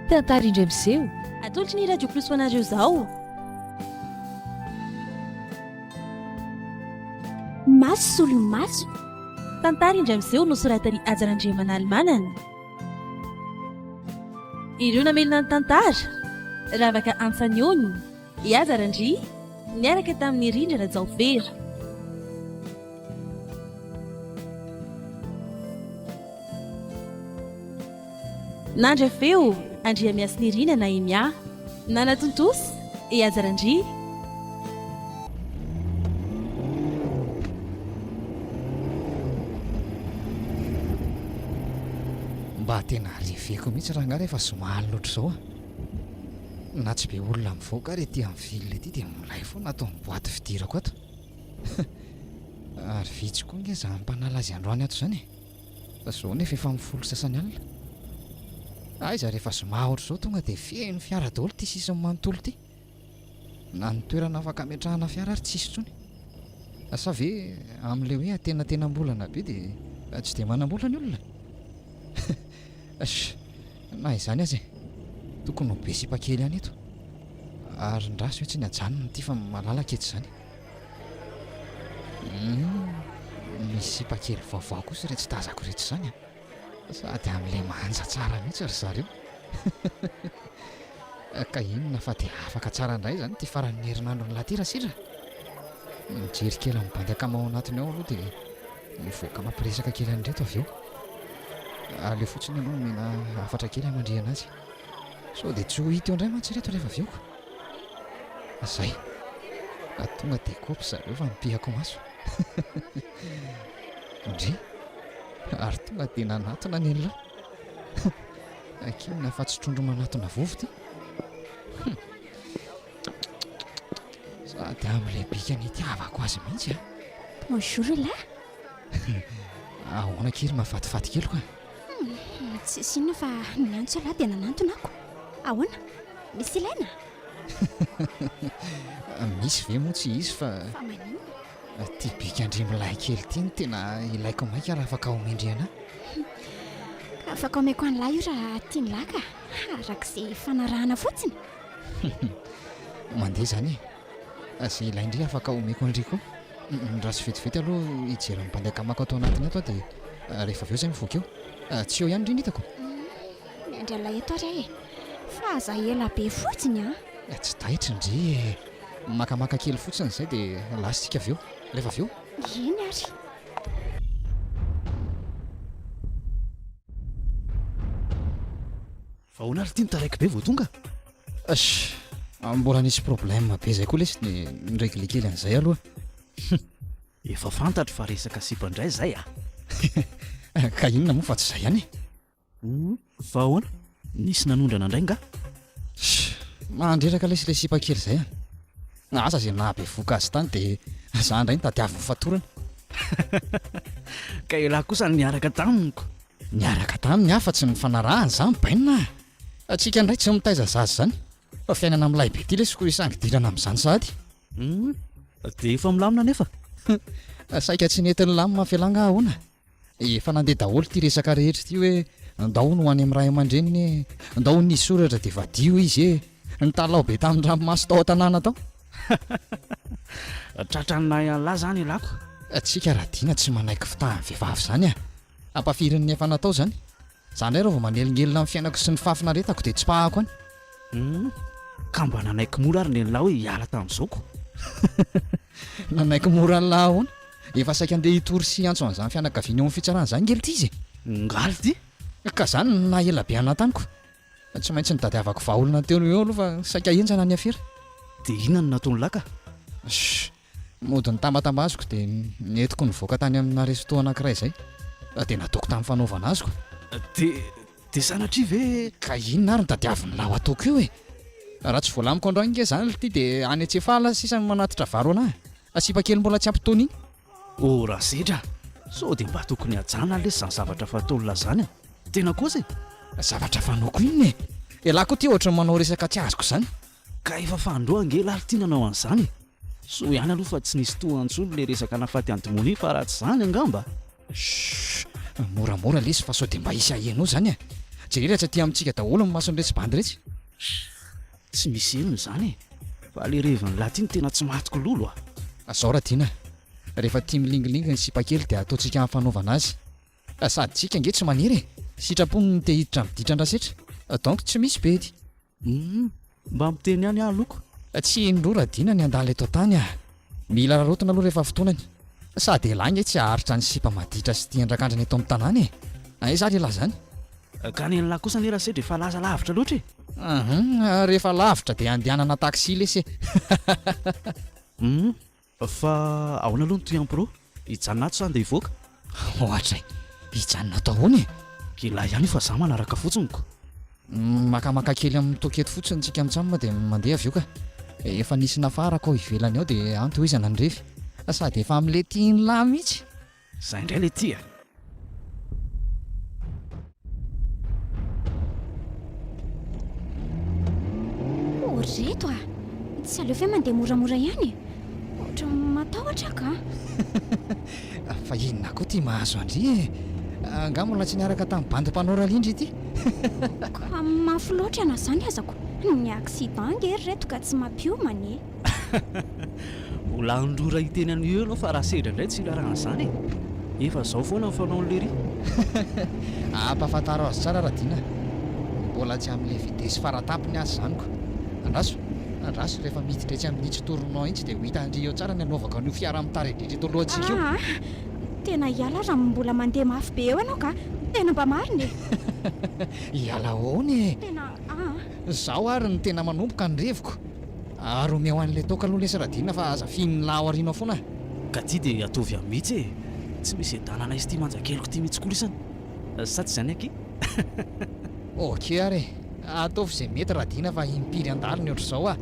Tantara indray miseho. Atolotry ny Radio Plus ho anareo izao. Maso solomaso. Tantara indray miseho nosoratan'i Haja Randriamanalimanana. Ireo namelona ny tantara, Ravaka Antsaniony. I Aza Randria niaraka tamin'i Rindra Rajaofera. Nandra feo, Andriamiasinirina Nahemia. Nanatontosa, i Aza Randria. Mba tena reveko mihitsy rangahy rehefa zoma alina ohatr'izao a! Na tsy be olona mivoaka ary ety amin'ny ville ety dia milay foana ato amin'ny boaty fidirako ato. Ary vitsy koa nge izany mpanala azy androany ato izany e. Fa izao nefa efa amin'ny folo sasany alina. Aiza rehefa zoma ohatr'izao tonga dia feno fiara daholo ity sisiny manontolo ity. Na ny toerana afaka ametrahana fiara ary tsisy intsony. Sa ve amin'ilay hoe atenatenam-bolana be dia tsy dia manam-bola ny olona? Sh! Na izany aza e! Tokony ho be sipa kely ihany eto. Ary ndra sao tsy ny ajanony ity fa malalaka eto izany. Humm! Misy sipa kely vaovao kosa iretsy tazako iretsy izany an! Sady amin'ilay manja tsara mihitsy ry zareo. Ka inona fa dia afaka tsara indray izany ity faran'ny herinandron'i Latira sisa. Mijery kely amin'ny bandy akama ao anatiny ao aloha dia mivoaka mampiresaka kely an'ireto avy eo. Aleo fotsiny aloha omena hafatra kely hamandrihana azy. Sao dia tsy ho hita eo indray mantsy ireto rehefa avy eo ka. Izay. Raha tonga dia kopy zareo fa mipihako maso. Ndry! ary tonga dia nanatona ny an'la hakiana fa tsy trondro manatona vovo ity. Hum! Sady amin'ilay bika nitiavako azy mihitsy an! Bonjour ila! Ahoana kely mahafatifaty kely koa? Hum! Tsisy inona fa niantso ila dia nanantona ako. Ahoana? Misy ilaina? Misy ve moa tsy hisy fa. Fa maninona? Ity bikandrimilahy kely ity no tena ilaiko maika raha afaka omendry ana. Ka afaka omeko an'la io raha tian'la ka, arak'izay ifanarahana fotsiny. Mandeha izany e. Izay ilain-dry afaka omeko an'ry koa. Midraso vetivety aloha hijery ny bandy akamako ato anatiny ato aho dia rehefa avy eo izay mivoaka eo. Tsy eo ihany ry ny hitako. Miandry an'la eto ary aho e. Fa aza ela be fotsiny an! Tsy taitry ndry e. Makamaka kely fotsiny izay dia lasa isika avy eo. Rehefa avy eo. Eny ary. Ahoana ary ity ny taraiky be vao tonga? Ash, mbola nisy problème be izay koa lesy ny niregle kely an'izay aloha. Efa fantatro fa resaka sipa indray izay ah. Ka inona moa fa tsy izay ihany e. Fa ahoana? Nisy nanondrana indray nga? Shh! Mandreraka lesy ilay sipa kely izay an! Asa izay nahabevohoka azy tany dia za indray no tadiavin'ny fatorana! Ka elah kosa niaraka taminy ko! Niaraka taminy aho fa tsy nifanarahana za mibainina a! Antsika indray tsy mitaiza zaza izany fa fiainana milay be ity lesy ko hisangy dilana amin'izany sahady! Dia efa milamina anefa? Saika tsy nety nilamina felà nga ahoana? Efa nandeha daholo ity resaka rehetra ity hoe ndao no any amin'ny ray aman-dreniny e, ndao ny soratra dia vadio izy e, nitalaho be tamin'ny ranomaso tao an-tanàna tao. Tratran'ny nahy an'lah zany ilako. Tsika Radiana tsy manaiky fitahan'ny vehivavy zany a! Ampafirin'ny efa natao zany. Za indray raha vao manelingelina ny fiainako sy ny fahafinaretako dia tsipahako any. Humm, ka mba nanaiky mora ary nenla hoe hiala tamin'izao ko. Nanaiky mora anla ahoana? Efa saika andeha hitory sy hiantso an'izany fianakaviana eo amin'ny fitsarana izany nge lty izy e! Ngaly ty! Ka zany no naha ela be anla tany ko! Tsy maintsy nitadiavako vahaolana teo no eo aloha fa saika henjana ny afera. Dia inona no nataonla ka? Shh! Mody nitambatambaziko dia ny entiko nivoaka tany amina resto anankiray izay fa dia nataoko tamin'ny fanaovana azoko. Dia dia sanatria ve? Ka inona ary no tadiavin'lah ho ataoko io e? Raha tsy voalamiko androany nge izany lty dia any Antsefala sisa no manatitra vary ho anah. A sipa kely mbola tsy ampy tony iny. O Rasedra a! Sao dia mba tokony hajana lesy izany zavatra fataon'lah izany a! Tena kosa e! Zavatra fanaoko inona e? Elah koa ity ohatran'ny manao resaka tsy azoko izany. Ka efa fandroa ange laly ty nanao an'izany e! Soa ihany aloha fa tsy nisy toa antsony le resaka nafaty an'i Dmony fa raha tsy izany angamba. Shhh! Moramora lesy fa sao dia mba hisy haheno izany e! Jereo rehetra aty amintsika daholo ny mason'iretsy bandy iretsy. Shhh! Tsy misy henony izany e! Fa le revin'i lahy ty no tena tsy maty kololo a! Zao ra Dina, rehefa tia milingilingy ny sipa kely dia ataontsika hafanaovana azy. Sady tsika ange tsy maniry e! Sitrapony ny te hiditra amin'ny ditra andrasetra. Donc tsy misy bedy. Humm, mba miteny ihany ah loko. Tsy indroa raha dina ny handala eto an-tany ah. Mila rarotina aloha rehefa fotoanany. Sady elah nge tsy haharitra ny sipa maditra sy tian drakandrina eto amin'ny tanàna e! Aiza ary elah zany? Gana elah kosa anie rasedra e fa laza lavitra loatra e! Ahmm, rehefa lavitra dia andehanana taxi lesy e! Humm, Fa ahoana aloha ny Tuyan Pro? Hijanona ato sa ndeha hivoaka? Ohatry hijanona ato ahoana e? Ilahy ihany io fa za manaraka fotsiny ko. Makamaka kely amin'ny toakety fotsiny tsika mitsam dia mandeha avy eo ka. Efa nisy nafarako ao ivelany ao dia antohizana ny refy. Sady efa amlety iny lahy mihitsy. Zah indray le ty a! Oh, ry reto a! Tsy aleo ve mandeha moramora ihany e? Ohatra matahotra aho ka! Fa inona koa ty mahazo an-dry e? Angaha mbola tsy niaraka tamin'ny bandy mpanao rallye ndry ity? Ka mafy loatra na zany aza ko! Ny accident ange ry reto ka tsy mampiomana e! Mbola handrora hiteny an'io eo ianao fa raha sedra indray tsy hilarana an'izany e! Efa izao foana ny fanaon'i Lery. Ampahafantaro azy tsara Radiana a! Mbola tsy amin'ilay vitesse faratapony aza izany ko! Andraso, andraso rehefa miditra etsy amin'ny tsy tournant itsy dia ho hitan-dry eo tsara ny hanaovako an'io fiara mitari-driaka eto alohantsika io. Aa! Tena hiala aza amin'ny mbola mandeha mafy be eo ianao ka! Tena mba marina e! Hiala ahoana e! Tena aa! Izaho ary no tena manomboka ny reviko! Ary omeo an'ilay toaka aloha lesy Radina fa aza fihin'ny lahy ao aoriana ao foana a! Ka ity dia ataovy ahy mihitsy e! Tsy misy hiadanana izy ity manja keliko ity mihitsy koa lisany! Sa tsy izany akia? Ok ary e! Ataovy izay mety Radina fa impiry handalo ny ohatr'izao a!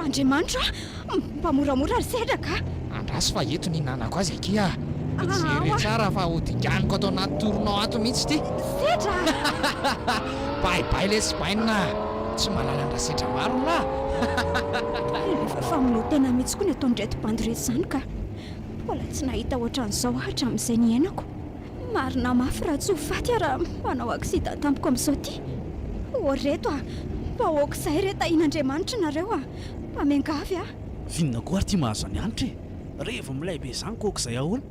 Andriamanitro a! Mba moramora ry Sedraka a! Andraso fa eto ny nanako azy akia ah! Jere tsara fa ho dinganiko ato anaty tournant ato mihitsy ity! Sedra! Bay bay lesy bainina ah! Tsy mahalala an-dRasedra maro r'lah! Fa milao tena mihitsy koa ny ataon'ireto bandy ireto izany ka! Mbola tsy nahita ohatran'izao aho hatramin'izay niainako! Marina mafy raha tsy ho faty aho raha manao accident tampoka amin'izao ity! Oh reto ah! Mba ok izay re tahian'Andriamanitra nareo ah! Mba miangavy ah! Vinona koa ary ity mahazo an'i Hanitra e! Revy milay be izany kôa k'izay ahoana?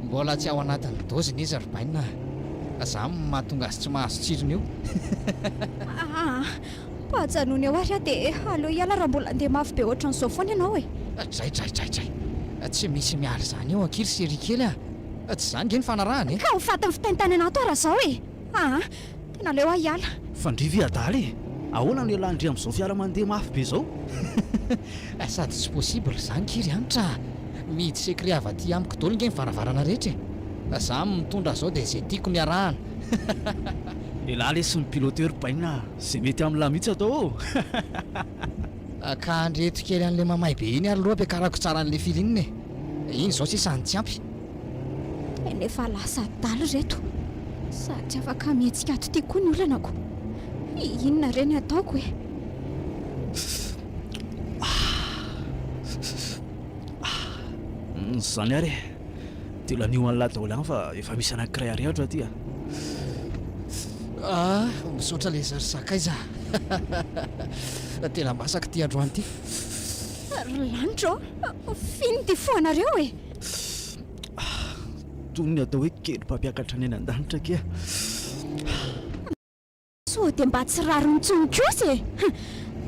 Mbola tsy ao anatin'ny doziny izy ry Bainina a! Zany no mahatonga azy tsy mahazo tsirony io. Aa! Mba ajanony eo ary aho dia aleo hiala raha mbola handeha mafy be ohatran'izao foana ianao e! Dray dray dray dray! Tsy misy miala izany eo ankiry Cherie kely a! Tsy izany nge ny fanarahana e! Ka ho fatin'ny fitaintainana ato aho raha izao e! Aa! Tena aleo aho hiala. Fandrivy adala e! Ahoana no hialan-dry amin'izao fiara mandeha mafy be izao? Sady tsy possible zany ki ry Hanitra a! Mihidy secret avy aty amiko dolo nge ny varavarana rehetra e! Za mitondra zao de ze tiako no iarahana. Elah lesy ny piloteur bainina a! Ze mety amin'lah mihitsy atao ô! Ka andreto kely an'le mamay be iny ary loha ampiakarako tsara an'le firinina e! Iny zao sisa no tsy ampy. Tena efa lasa adala ireto sady tsy afaka mihetsika ato ity koa ny olanako. Inona re ny ataoko e? Izany ary e, dia lanio an'la daholo ihany fa efa misy anankiray arehatra aty a! Ah, misaotra lesy ry sakaiza a! Tena masaka ity androany ity. Ry lanitra ô, f'inona ity foanareo e? Toy ny atao hoe kely mpampiakatra ny any an-danitra kea. Sao dia mba tsy rariny intsony kosa e!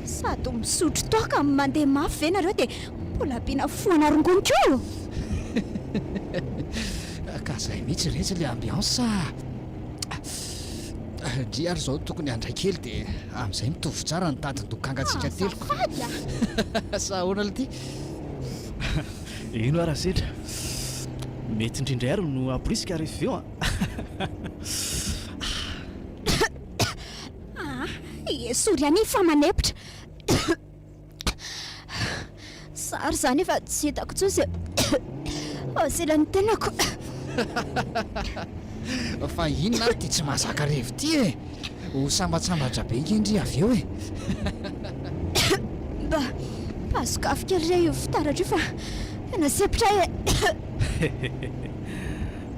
Sady misotro toaka, mandeha mafy ve nareo dia mbola ampiana foana rongony koa? Ka izay mihitsy re tsy ilay ambiance a! Ndry ary izao tokony handray kely dia amin'izay mitovy tsara ny tadin-dokangantsika telo. Azafady a! Sa ahoana ilay ty? Eny oa Rasedra, mety indrindra ary no hamporisika ary avy eo an! Aah, esory ihany iny fa manepotra. Za ary izany efa tsy hitako intsony izay haselan'ny tenako. Fa inona ary ity tsy mahazaka revy ity e! Ho sambatsambatra be nge ndry avy eo e! Mba azoko afo kely re io fitaratra io fa tena sepitra ahy e!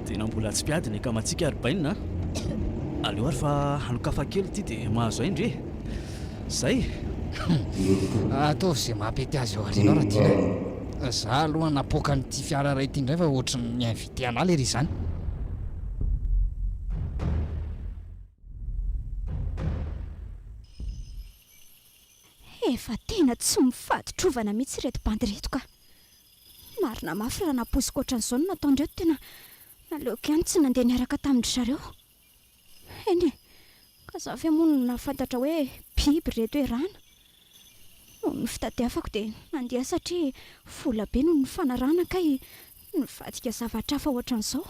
Tena mbola tsy mpiady ny akamatsika ry Bainina a! Aleo ary fa hanokafa kely ity dia mahazo ahy ndry e! Zay e! Ataovy ze maha pety azy ao arinao Radina a! Za aloha napoaka an'ity fiara iray ity ndray fa ohatry ny mi-inviter anah lery izany! Efa tena tsy mifady trovana mihitsy ireto bandy ireto ka! Marina mafy raha nampoiziko ohatran'izao no nataondreo, tena naleoko ihany tsy nandeha niaraka tamin-dry zareo. Eny e, ka za ve moa no nahafantatra hoe biby ry reto erana? Noho ny fitadiavako dia nandeha satria vola be no nifanarahana kay nivadika zavatra hafa ohatran'izao.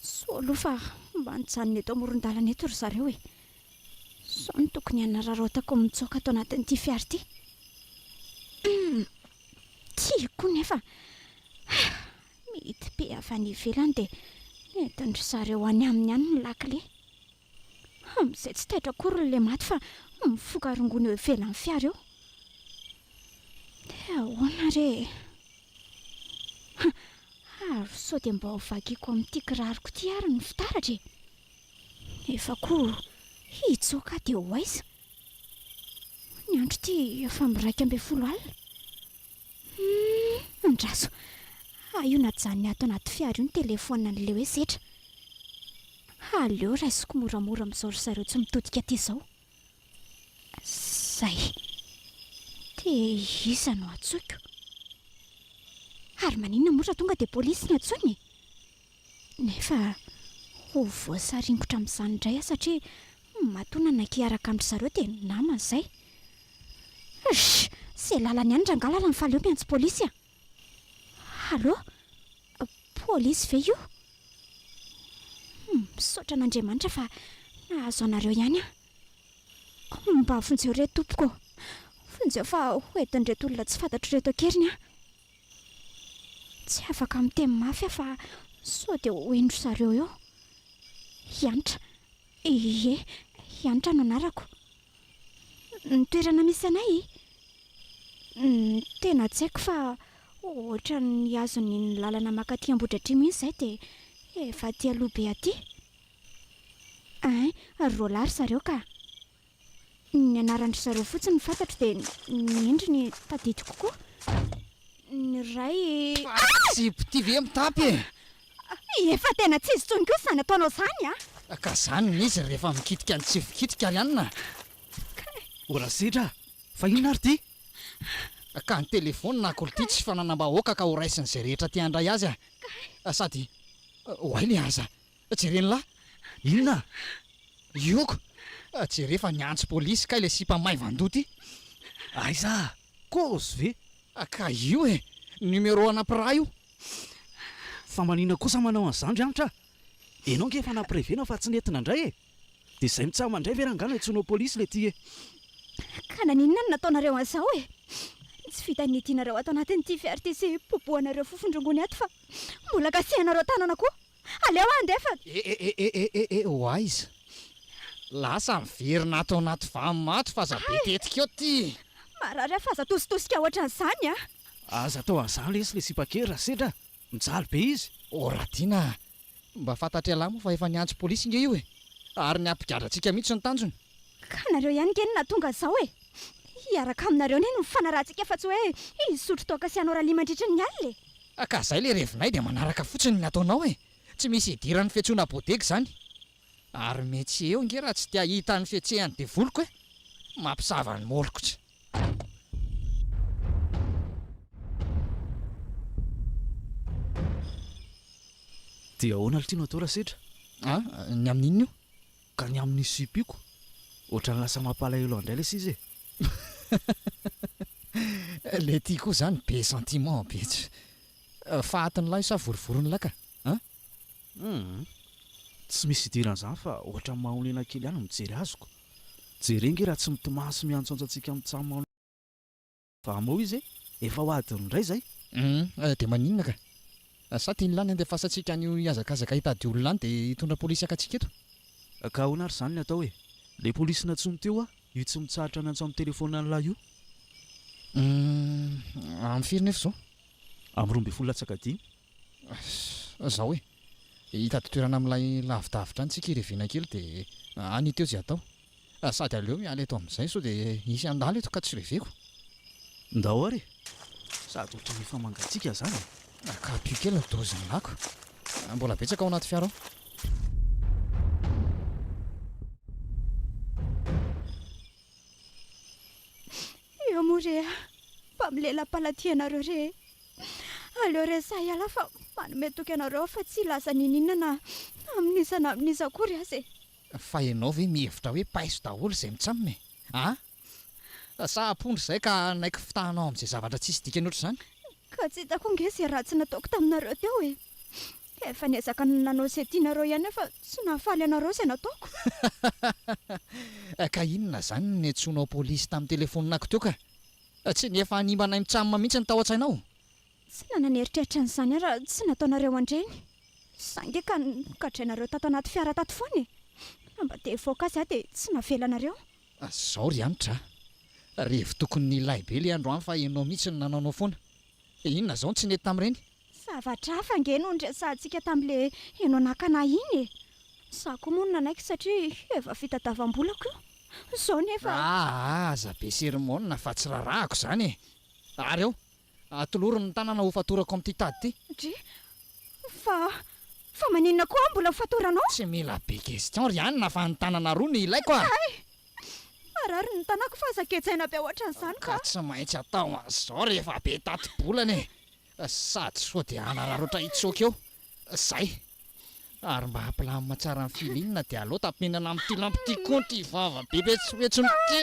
Soa aloha fa mba nijanona eto amoron-dalana eto ry zareo e! Sao ny tokony hanararaotako ny mitsoaka ato anatin'ity fiara ity? Hum! Tiako koa nefa Mihidim-pe avy any ivelany dia nentin-dry zareo any aminy any ny lakile. Amin'izay tsy taitra akory ny lematy fa mifoka rongony eo ivelan'ny fiara eo. Dia ahoana re e? Ary sao dia mba ho vakiako amin'ity kiraroko ity ary ny fitaratra e? Nefa koa hitsoaka aho dia ho aiza? Ny andro ity efa miraika ambin'ny folo alina. Humm andraso ah io najanony ato anaty fiara io ny téléphone an'i Leo hoe setra ha Leo raisiko moramora mizao ry zareo tsy mitodika aty zao zay de iza no antsoiko ary maninona moa raha tonga de polisy no antsoina e? Nefa ho voasaringotra amin'izany indray aho satria matoa nanaiky hiaraka amin-dry zareo dia namany izay. Hsh! Izay lalany ihany rangahy lalan'ny faly eo miantso polisy a! Allô? Polisy ve io? Humm, misaotra an'Andriamanitra fa nahazo anareo ihany aho. Mba vonjeo re tompoko ô! Vonjeo fa hoentin'ireto olona tsy fantatro ireto an-keriny aho. Tsy afaka miteny mafy aho fa sao dia ho hendry zareo eo. Hanitra. Ie, Hanitra no anarako. Ny toerana misy anay? Ny tena tsy haiko fa ohatran'ny hazon'ny ny lalana makaty Ambohidratrimo iny izay dia efa aty aloha be aty. Hein, roa lahy ry zareo ka. Ny anaran-dry zareo fotsiny fantatro dia ny endriny tadidiko koa. Ny iray. Faran'ny zipo ity ve mitapy e! Efa tena tsy izy intsony koa izany ataonao izany a! Ka izany ny izy rehefa mikitika ny tsy fikitika ry anona a! Kay! Mbola sedra a! Fa inona ary ity? Ka ny telefaonina akory ity tsy fananam-bahoaka ka horaisin'izay rehetra te handray azy a! Kay! Sady oay le aza! Jereny la! Inona? Ioko! Jere fa niantso polisy kay le sipa maivan-doha ty! Aiza? Kozy ve? Ka io e! Numero ana mpiraha io! Fa manina kosa manao an'izany ry Hanitra? Enao nge efa nampirevena fa tsy nety nandray e! De zay mitsam mandray ve rangah no antsoinao polisy le ty e! Ka naninona no nataonareo an'izao e! Tsy vitan'ny itianareo ato anatin'ity fiarty sy popohanareo fofon-drongony ato fa mbola kasihanareo tanana koa! Aleo andefa! E e e e e e e ho aiza? Lasa miverina ato anaty vany maty f'aza be tetika eo ty! Marary aho f'aza atositosika ohatran'izany a! Aza atao an'izany lesy ilay sipa kely raha sendra mijaly be izy! O Radiana a! Mba fantatr'ialahy moa fa efa niantso polisy nge io e! Ary ny hampigadra antsika mihitsy no tanjony! Ka nareo ihany nge no nahatonga an'izao e! Hiaraka aminareo anie no mifanarahantsika fa tsy hoe hisotro toaka sy hanao rallye mandritra ny alina e! Ah ka zay le revinay de manaraka fotsiny ny ataonao e! Tsy misy idiran'ny fihetsona bodega izany! Ary metsy eo nge raha tsy te ahita ny fihetsehan'ny devoliko e! Mampisava ny molokitra. Dia ahoana ry Tino atao raha sedra? Ah, ny amin'inona io? Ka ny amin'ny sipioko? Ohatrany lasa mampalahelo andray lesy izy e! Letty koa zany be sentiment be tsy fahatin'lahy sa vorivorin'lahy ka an! Hum! Tsy misy idiran'izany fa ohatrany mahonena kely ihany ny mijery azy ko! Jereo nge raha tsy mitomany sy miantsoantso antsika mitsaha-manoloana. Fa moa izy efa ho adiny indray izay? Humm dia maninona ka? Sa tian'i Lany handefasantsika an'io hihazakazaka hitady olona any dia hitondra polisy haka antsika eto? Ka ahoana ary izany no atao e? Ilay polisy nantsoiny teo aho, io tsy mitsahatra niantso amin'ny telefaonina an'lah io. Humm amin'ny firy nefa izao? Amin'ny roa ambin'ny folo latsaka dimy. Izao e, hitady toerana amin'ilay lavidavitra any tsika hirevena kely dia any io teo izay atao. Sady aleo miala eto amin'izay sao dia hisy handalo eto ka tsy reveko. Ndao ary e! Sady ohatran'ny efa mangatsiaka izany e! Akampio kely ny dozin'ny lako. Mbola betsaka ao anaty fiara ao. Eo moa re a! Mba milela-palatihanareo re e! Aleo resaha ialahy fa manome toky anareo aho fa tsy hilaza n'inon'inona na amin'iza na amin'iza akory aza e! Fa ianao ve mihevitra hoe paiso daholo izay mitsamina e? A! Sa ampondra izay ka hanaiky fitahanao amin'izay zavatra tsisy dikany ohatr'izany? Ka tsy hitako ange izay ratsy nataoko taminareo teo e! Efa niezaka nanao izay tianareo ihany aho fa tsy nahafaly anareo izay nataoko. Ka inona izany no niantsoanao polisy tamin'ny telefoninako teo ka? Tsy ny efa hanimba anay mitsamina mihitsy no tao an-tsainao? Tsy nanana eritreritra an'izany aho raha tsy nataonareo an-dreny. Saingy eka nogadrainareo tato anaty fiara tato foana e! Raha mba te hivoaka azy aho dia tsy navelanareo. Azao ry Hanitra a! Revy tokony nilay be ilay andro an fa ianao mihitsy no nanaonao foana. Inona izao no tsy nety tamin'ireny? Zavatra hafa ange no niresahantsika tamin'ilay ianao nakana ahy iny e! Izaho koa moa no nanaiky satria efa vita davam-bolako io. Izao nefa. Aa aza be sermona fa tsy rarahako izany e! Ary ao? Atolory ny tanana ho fatorako amin'ity tady ity. Dry, Fa, fa maninona koa aho mbola ho fatoranao? Tsy mila be question ry Anna fa ny tanana roa no ilaiko a! Hay! Marary ny tanako fa aza gejaina be hoatran'izany ka! Ka tsy maintsy atao an'izao rehefa be tati-bolana e! Sady sao dia hanararaotra hitsoaka eo! Zay! Ary mba ampilamina tsara ny feeling dia aleo tapenana amin'ity lambo ity koa ity vava be betsohetsony ity!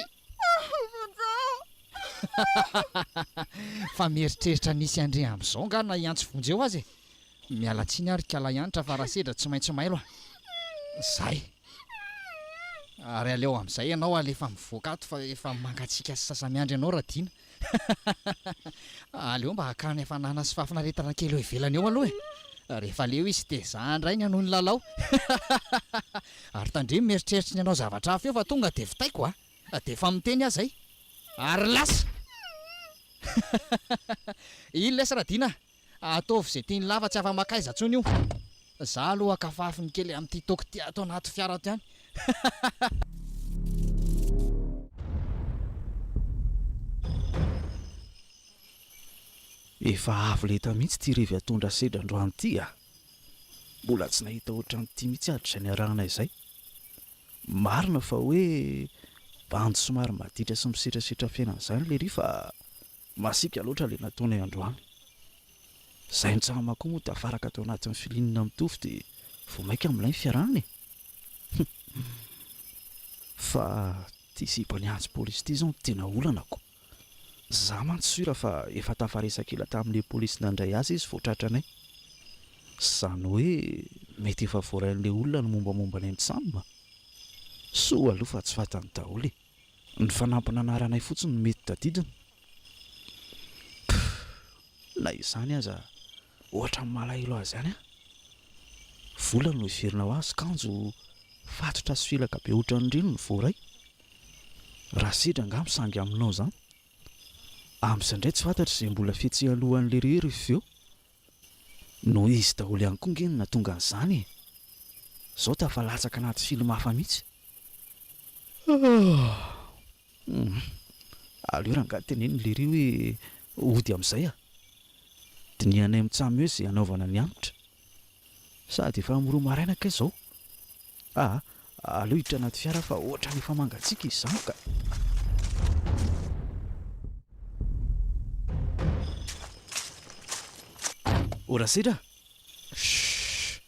Fa mieritreritra ny hisy an'ireny amin'izao angaha na i Antsy Vonjy eo aza e! Miala tsiny aho ry Kalahianitra fa raha sedra tsy maintsy mailo a! Zay! Ary aleo amin'izay ianao alefa mivoaka ato fa efa mangatsiaka sy sasa-miandry anao Radiana! Aleo mba hakany hafanana sy fahafinaretana kely eo ivelany eo aloha e! Rehefa leo izy dia za indray ny hanohy ny lalao. Ary tandremo mieritreritra ny hanao zavatra hafa eo fa tonga dia vitaiko a! Dia efa miteny aza i. Ary lasa! Iny lesy Radiana a! Ataovy izay tian'i Lava tsy afa-makaiza intsony io. Za aloha kafafy ny kely amin'ity toky ity ato anaty fiara ato ihany. Efa avo lenta mihitsy ity revy atondra sedra androany ity a! Mbola tsy nahita ohatran'ity mihitsy aho hatrizay niarahana izay. Marina fa hoe bandy somary maditra sy misetrasetra fiainana izany lery fa Masiaka loatra ilay nataonay androany. Izahay mitsahama koa moa tafaraka tao anatin'ny filinina mitovy dia vao maika milay ny fiarahana e! Humm. Fa ity sipan'i Antso Polisy ity izao no tena olanako. Izaho mantsy sura fa efa tafaresaka ela tamin'ilay polisy nandray azy izy vao tratranay. Izany hoe mety efa voarain'ilay olona ny mombamomba anay mitsam. Soa aloha fa tsy fantany daholo e! Ny fanampina anaranay fotsiny no mety tadidiny? Pff! Na izany aza ohatran'ny malahelo azy ihany aho. Vola no heverina ho azy, kanjo fatotra sy felaka be ohatran'ireny no voaray. Raha sedra angaha misangy aminao izany. Amin'izay indray tsy fantatra izay mbola fihetsehany alohan'ny leroy rehefa avy eo. Noho izy daholo ihany koa ange no nahatonga an'izany e! Izao dia afa-latsaka anaty film hafa mihitsy. Aleo rangahy teneno lery hoe hody amin'izay a! Dinihanay amin'ny tsamy hoe izay hanaovana ny hanitra. Sady efa amin'ny roa maraina kay izao. Aa, aleo hiditra anaty fiara aho fa ohatran'ny efa mangatsiaka izany ka! Oh Rasedra a! Shhh!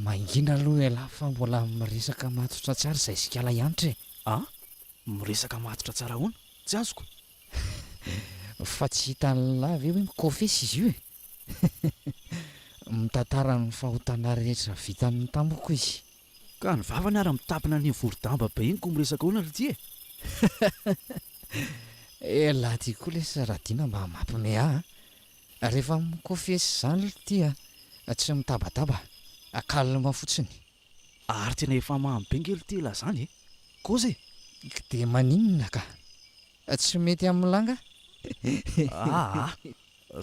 Mangina aloha ialahy fa mbola miresaka matotra tsy ary zay sikala ihanitra e! A? Miresaka matotra tsara ahoana? Tsy azoko. Fa tsy hitan'ilahy ve hoe mikofesy izy io e? Mitantara ny fahotana rehetra vitany tamiko izy. Ka ny vavany ary mitapina an'iny vorodamba be iny koa miresaka ahoana ry ty e? Elah ty koa lesy Radina mba mampime ahy a! Rehefa mi-confesse izany lty a, tsy mitabataba, calme fotsiny. Ary tena efa mamy be nge lty la zany e! Koza e! K de maninona ka! Tsy mety amin'ny la nga? Aa!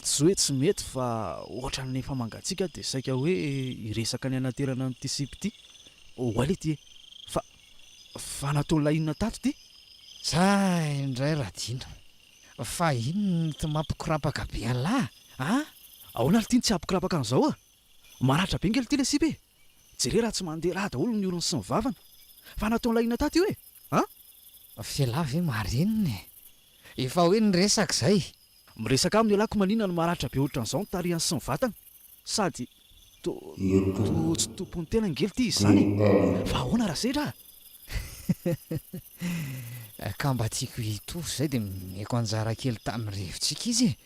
Tsy hoe tsy mety fa ohatran'ny efa mangatsiaka dia saika hoe hiresaka ny hanaterana an'ity sipa ity oay lty e! Fa fa nataon'la inona tato ty? Zah indray Radina. Fa inona ity mampikorapaka be an'lah a? Ahoana ary ity no tsy hampikorapaka an'izao a? Maratra be ngely ity ilay sipa e! Jereo raha tsy mandeha rà daholo ny orony sy ny vavany! Fa nataon'ilay inona tato io e? A? F'elah ve marina e! Efa hoe niresaka izay! Miresaka aminy elah ko maninona no maratra be ohatran'izao ny tarihany sy ny vatany? Sady to tsy tompon'ny tena ngely ty izy zany e! Fa ahoana raha sedra a! Hehe! Ka mba tiako hitory zay de nomeko anjara kely tamin'ny rivotsika izy e!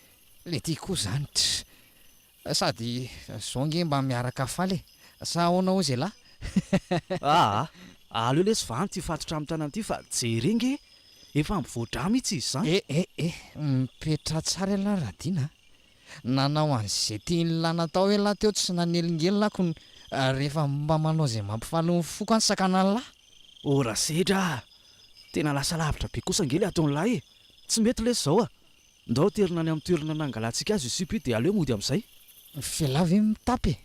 Le ty koa zany tss! Sady zao nge mba miaraka faly e! Sa ahoana hozy elah? Aa! Aleo lesy vany ty fatotra amin'ny tanana ty fa jereo nge efa mivoa-drà mihitsy izy zany! Eh eh eh! Mipetraha tsara elah Radina a! Nanao an'izay tian'lah natao elah teo tsy nanelingelina ako ny rehefa mba manao izay mampifaly ny foko any sakan'lah. Oh Rasedra ah! Tena lasa lavitra be kosa ange le ataon'lah e! Tsy mety lesy zao ah! Ndao aterina any amin'ny toerana nangalantsika azy io sipa io dia aleo mody amin'izay. F'elah ve mitapy e?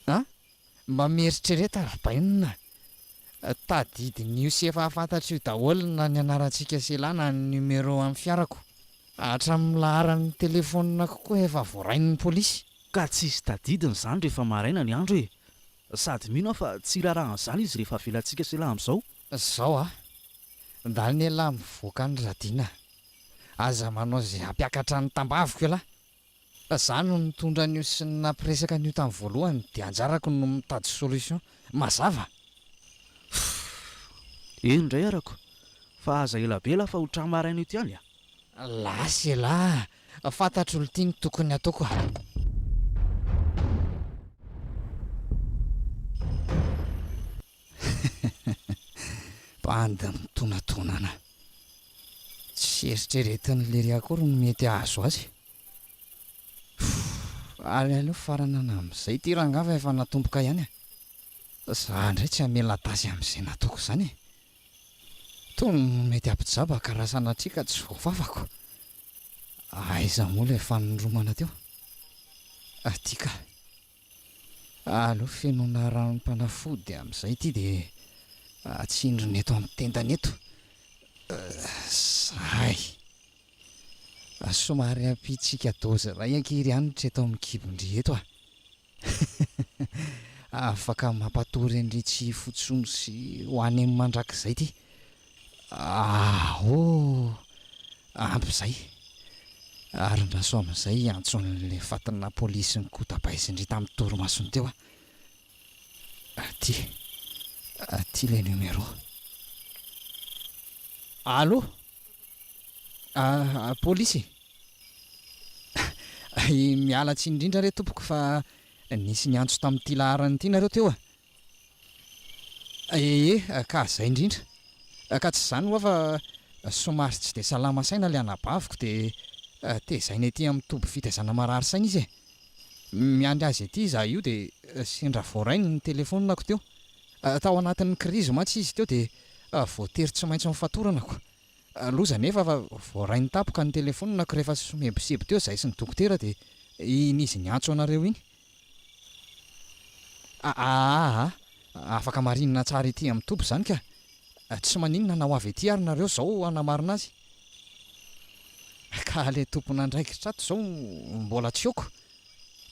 A, Mba mieritrereta Rabainina. Tadidin'io sy efa fantatro io daholo na ny anarantsika sy la na ny numéro amin'ny fiarako. Hatramin'ny laharan'ny telefonina kokoa efa voarain'ny polisy. Ka tsisy tadidiny izany rehefa maraina ny andro e! Sady mino aho fa tsy hirarahan'izany izy rehefa avelantsika sy la amin'izao. Zao a! Ndalina elah mivoaka any Radina. Aza manao izay hampiakatra ny tambaviko elah. Fa za no nitondra an'io sy nampiresaka an'io tamin'ny voalohany dia anjarako no mitady solution. Mazava? Fff. Eny indray arako. Fa aza ela be lah fa ho tra maraina eto ihany a. Lasa elah. Fantatro lty ny tokony ataoko a. Bandy mitonantonana. Tsy eritreretin'i Lery akory ny mety hahazo azy. Ary aleo faranana amin'izay ity rangahy fa efa natomboka ihany e. Za indray tsy hamela tasy amin'izay nataoko izany e. Tony no mety hampijabaka raha sanatria ka tsy voafafako. Aiza moa ilay fanoromana teo? Aty kah. Aleo fenoina ranom-panafody amin'izay ity dia atsindrina eto amin'ny tendany eto. Izay. Somary ampiantsika dozy iray ankiry hanitra eto amin'ny kibon-dry eto a! Afaka mampatory an'iretsy fotsony sy ho any amin'ny mandrakizay ity. Ah oh! Ampy izay. Arin-dRasoa amin'izay hiantso an'ilay fatinà polisy nikotabaizin-dry tamin'ny torimasony teo aho. Aty. Aty ilay numéro. Allo? Ah, polisy? Miala tsiny indrindra re tompoko fa nisy niantso tamin'ity laharana ity nareo teo a. Ee, ka izay indrindra. Ka tsy izany hoa fa somary tsy dia salama saina ilay anabaviko dia tezaina ety amin'ny toby fitaizana marary saina izy e. Miandry azy ety izaho io dia sendra voarainy ny telefaoninako teo. Tao anatin'ny krizy mantsy izy teo dia voatery tsy maintsy nofatoranako. Loza anefa fa voarainy tapoka ny telefaoninako rehefa somebiseby teo izahay sy ny dokotera dia iny izy niantso anareo iny. Ahaha, afaka marinina tsara ety amin'ny toby izany ka! Tsy maninona na ho avy ety ary nareo izao hanamarina azy. Ka ilay tompon'andraikitra ato izao mbola tsy oko.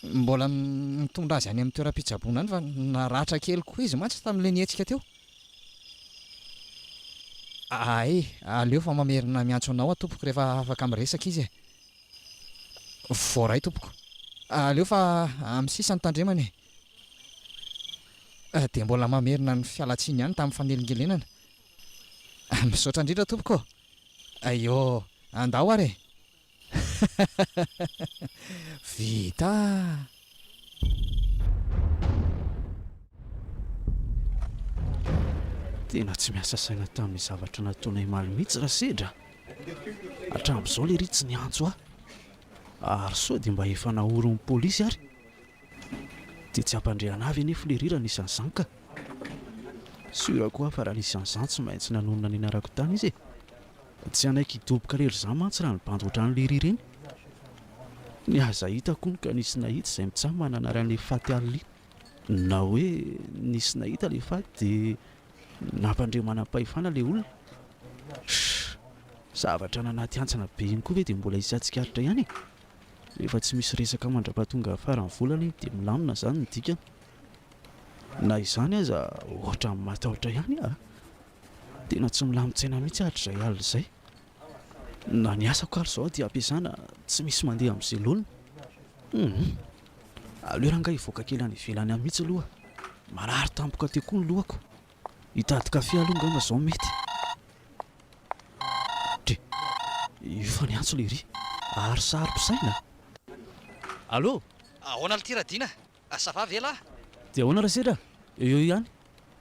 Mbola mitondra azy any amin'ny toeram-pitsaboana any fa naratra kely koa izy mantsy tamin'ilay nihetsika teo. Hay, aleo fa mamerina miantso anao aho tompoko rehefa afaka miresaka izy e! Voaray tompoko. Aleo fa amin'ny sisa ny tandremana e. Dia mbola mamerina ny fialantsiny ihany tamin'ny fanelingelenana. Misaotra indrindra tompoko. Aiô, andao ary e. Vita. Tena tsy miasa saina tamin'ny zavatra nataonay maly mihitsy Rasedra. Hatramin'izao lery tsy niantso ahy. Ary sao dia mba efa naorin'ny polisy ary. Dia tsy hampandriana avy anefa lery raha nisy an'izany ka. Sûr koa aho fa raha nisy an'izany tsy maintsy nanonona ny anarako tany izy e. Tsy hanaiky hidoboka lery izaho mantsy raha nibandy ohatran'i lery ireny. Ny aza hitako hono ka nisy nahita izay mitsaha manana ary an'ilay faty alli na hoe nisy nahita ilay faty dia nampandre manam-pahefana ilay olona zavatra any anaty hantsana be iny koa ve dia mbola hisy hatsikaritra ihany e rehefa tsy misy resaka mandra-pahatonga faran'ny volana iny dia milamina izany ny dikany na izany aza ohatra ny matahotra ihany ah tena tsy milamin-tsaina mihitsy hatrizay alina izay Na ny asako ary izao dia ampiasana tsy misy mandeha amin'ny selona. Hum. Aleo rangahy hivoaka kely any ivelany any mihitsy aloha. Marary tampoka teo koa ny lohako. Hitady kafe aloha angamba izao mety. Dre. Io fa niantso lery. Ary saro-pisaina. Allo! Ahoana l'ty Radina? Ah ça va ve lah? Dia ahoana ra sedra? Eo eo ihany.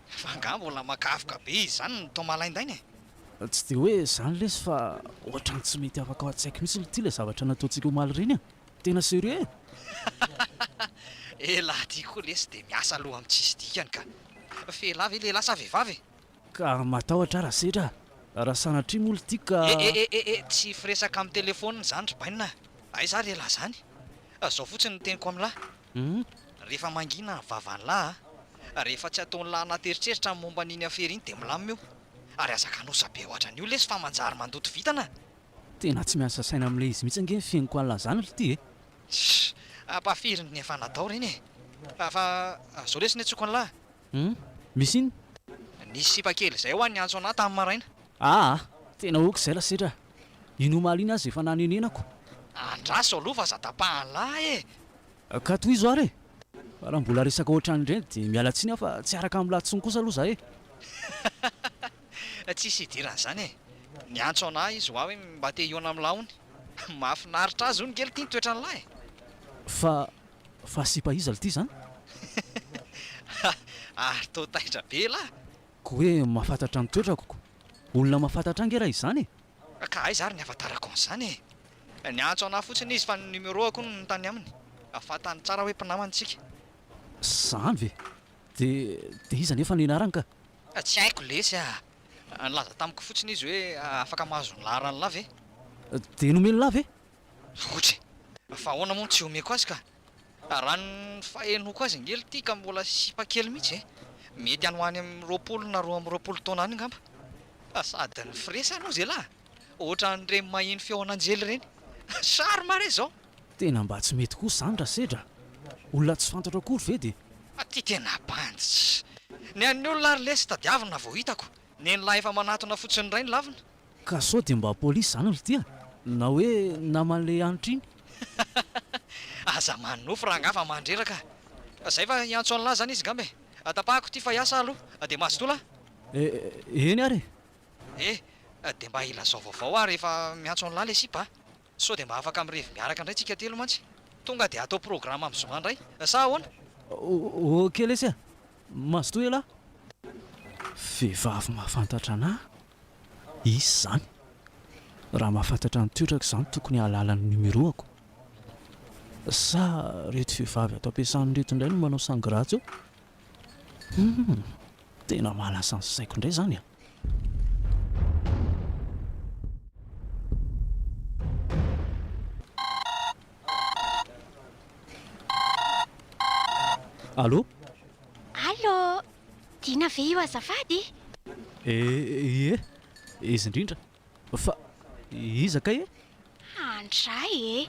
Fa angaha mbola makavoka be izany ny taoma laindaina e? Tsy dia hoe izany lesy fa ohatrany tsy mety afaka ao an-tsaiko mihitsy ity ilay zavatra nataontsika omaly ireny e! Tena serieux e! Elah ty koa lesy dia miasa loha amin'ny tsisy dikany ka! F'elah ve lehilahy sa vehivavy e? Ka matahotra ara setra a! Raha sanatria moa ry tiako ka. Eh eh eh eh tsy firesaka amin'ny telephone izany ry bainina a! Aiza ary elah izany? Izao fotsiny ny teniko amin'lah a! Rehefa mangina ny vavan'lah a! Rehefa tsy ataon'lah anaty eritreritra ny momba an'iny afera iny dia milamina io! Ary aza kanosa be hoatran'io lesy fa manjary mandoto vintana a! Tena tsy miasa saina amin'ilay izy mihitsy ange ny fihainoko an'lah izany ry ty e! Sh! Ampahafirin'ny efa natao ireny e! Fa, fa izao lesy ny antsoiko an'lah a! Hum. Misy inn? Nisy sipa kely izay ho an'i Antsona tamin'ny maraina. Aa! Tena ok izay lasetra a! Iny omaly iny aza efa nanenenako. Andraso aloha fa aza tapahan'lah e! Ka tohizo ary e! Fa raha mbola resaka ohatran'ireny dia miala tsiny aho fa tsy hiaraka amin'lah tsony kosa aloha za e! Tsisy hidiran'izany e! Ny Antsona izy hoa hoe mba te hihaona amin'lah hono. Mahafinaritra azy hono ngely ity ny toetran'lah e! Fa Fa sipa iza lty zany? Hahahha ary toa taitra be lah! Ko hoe mahafantatra ny toetrako ko! Olona mahafantatra ahy nge raha izany e! Ka aiza ary ny avatarako an'izany e! Niantso anah fotsiny izy fa ny numeroako hono no tany aminy! Mba fantany tsara hoe mpinamana tsika! Zany ve! De de iza nefa no ianarany ka? Tsy haiko lesy ah! Nilaza tamiko fotsiny izy hoe afaka mahazo ny laharan'lah ve? De nomen'lah ve? Loatra e! Fa ahoana moa no tsy omeko azy ka? Raha ny fahenoako azy ange ity ka mbola sipa kely mihitsy e! Mety any ho any amin'ny roapolo na roa amby roapolo taona any angamba. Fa sady ny firesany hozy elah! Ohatran'ireny maheno feon'anjely ireny. Charme re izao! Tena mba tsy mety kosa izany Rasedra a! Olona tsy fantatro akory ve dia. Fa ity tena bandy! Ny an'ny olona ary lesy tadiavina vao hitako. Nen'lah efa manatona fotsiny indray ny lavina. Ka sao dia mba police zany ry tia na hoe naman le hanitra iny. Aza manonofy rangah fa mandreraka fa zay fa hiantso an'lah zany izy ngamba e! Tapahako ity fa hiasa ah aloha dia mazotoa lah. Eh, eny ary e! Eh, dia mba ilazao vaovao ah rehefa miantso an'lah le sipa ah. Sao dia mba afaka mirevy miaraka indray tsika telo mantsy. Tonga dia atao programa amin'ny zoma indray. Sa ahoana? Ok lesy a! Mazotoa ialahy. Vehivavy mahafantatra anà izy izany. Raha mahafantatra ny toetrako izany tokony hahalala ny numéro-ako. Sa ireto vehivavy ato am-piasana ireto indray no manao sangratsy eo? Humm! Tena mahalasa ny saiko indray izany an! Allo? Allo! Dina ve io azafady? Ee, izy indrindra. Fa iza kay e? Handray e!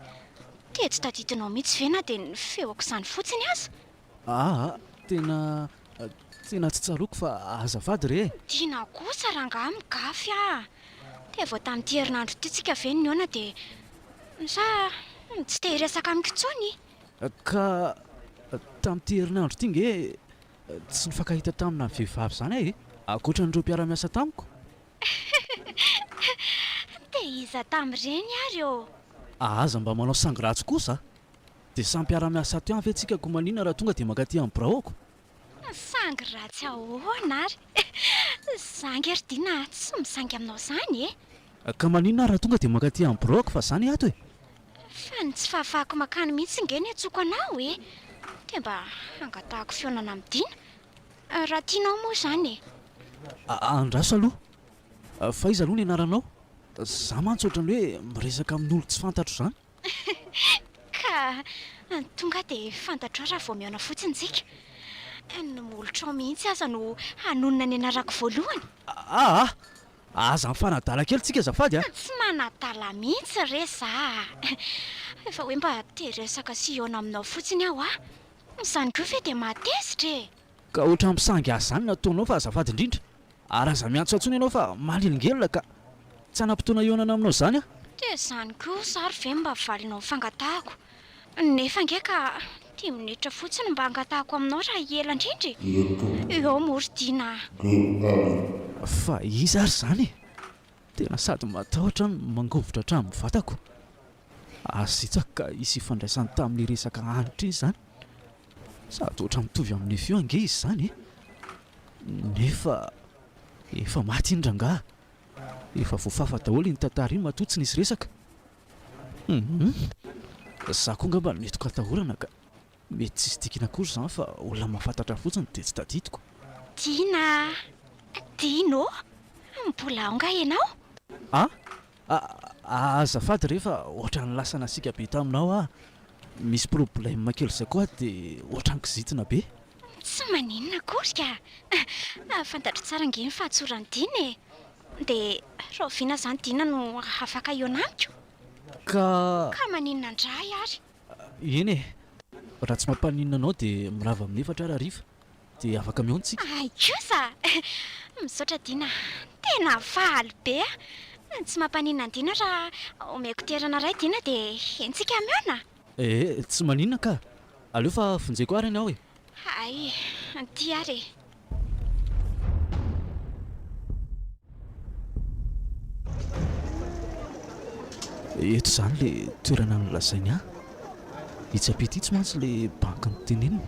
Tejo tadidinao mihitsy ve na dia ny feoko izany fotsiny aza? Aa, tena, tena tsy tsaroako fa azafady re e! Tiana kosa rangaha migafy a! Dia vao tamin'ity herinandro ity tsika ve nihaona dia sa tsy te hiresaka amiko intsony? Ka tamin'ity herinandro ity nge tsy nifankahita tamina vehivavy izany aho e! Ankoatra an'ireo mpiara-miasa tamiko? Dia iza tamin'ireny ary ô? A Aza mba manao sangy ratsy kosa a! Dia samy mpiara-miasa ato ihany ve tsika koa maninona raha tonga dia mankaty amin'ny biraoko? Sangy ratsy ahoana ary? Za ange ry Dina tsy misangy aminao izany e! Ka maninona ary raha tonga dia mankaty amin'ny biraoko fa za ny ato e! Fa ny tsy fahafahako mankany mihitsy ange no iantsoako anao e! Dia mba hangatahako fihaonana amin'i Dina! Raha tianao moa izany e! Andraso aloha! Fa iza aloha ny anaranao? Za mantsy ohatran'ny hoe miresaka amin'olo tsy fantatro izany! Ka! Tonga dia fantatrao raha vao mihaona fotsiny tsika! Ny molotrao mihitsy aza no hanonona ny anarako voalohany! Aa! Aza mifanadala kely tsika azafady a! Tsy manadala mihitsy re za a! Efa hoe mba te hiresaka sy hihaona aminao fotsiny aho a! Izany koa ve dia mahatezitra e! Ka ohatran'ny mpisangy ahy izany ny ataonao fa azafady indrindra ary aza miantso ahy intsony ianao fa manelingelina ka! Tsy hanam-potoana hihaonana aminao izany aho. Dia izany koa izaho ary ve mba valinao fangatahako? Nefa ange ka dimy minitra fotsiny mba hangatahako aminao raha hiela indrindra e! Ireto. Eo moa ry Dina a! DL. Fa iza ary izany e? Tena sady matahotra no mangovitra hatramin'ny vatako. Azy Isak ka hisy ifandraisany tamin'ny resaka hanitra iny izany. Sady ohatra mitovy amin'i Nefio ange izy izany e! Nefa efa maty iny rangaha. Efa voafafa daholo iny tantara iny matoa tsy nisy resaka. Hum! Za koa angamba no nety ho katahorana ka! Mety tsisy dikany akory izany fa olona mahafantatra fotsiny dia tsy tadidiko. Dina a! Dino ô! Mbola ao nga ianao? A! A! Azafady re fa ohatran'ny lasa nasiaka be taminao aho. Misy problème kely izay koa aho dia ohatran'ny kizitina be. Tsy maninona akory ka! Fantatro tsara ange ny fahatsoran'i Dina e! Dia rahoviana izany Dina no afaka hihaona amiko? Ka! Ka maninona indray ary? Eny e! Raha tsy mampaninona anao dia mirava amin'ny efatra ary hariva dia afaka mihaona isika. Hay kosa! Misaotra Dina a! Tena faly be aho! Tsy mampaninona an'Dina raha omeko toerana iray Dina dia entsika mihaona? Ee, tsy maninona kah! Aleo fa vonjeko ary ny aho e! Hay, aty ary e. Eto izany le toerana nolazainy ahy. Itsy ampita itsy mantsy le banky noteneniny.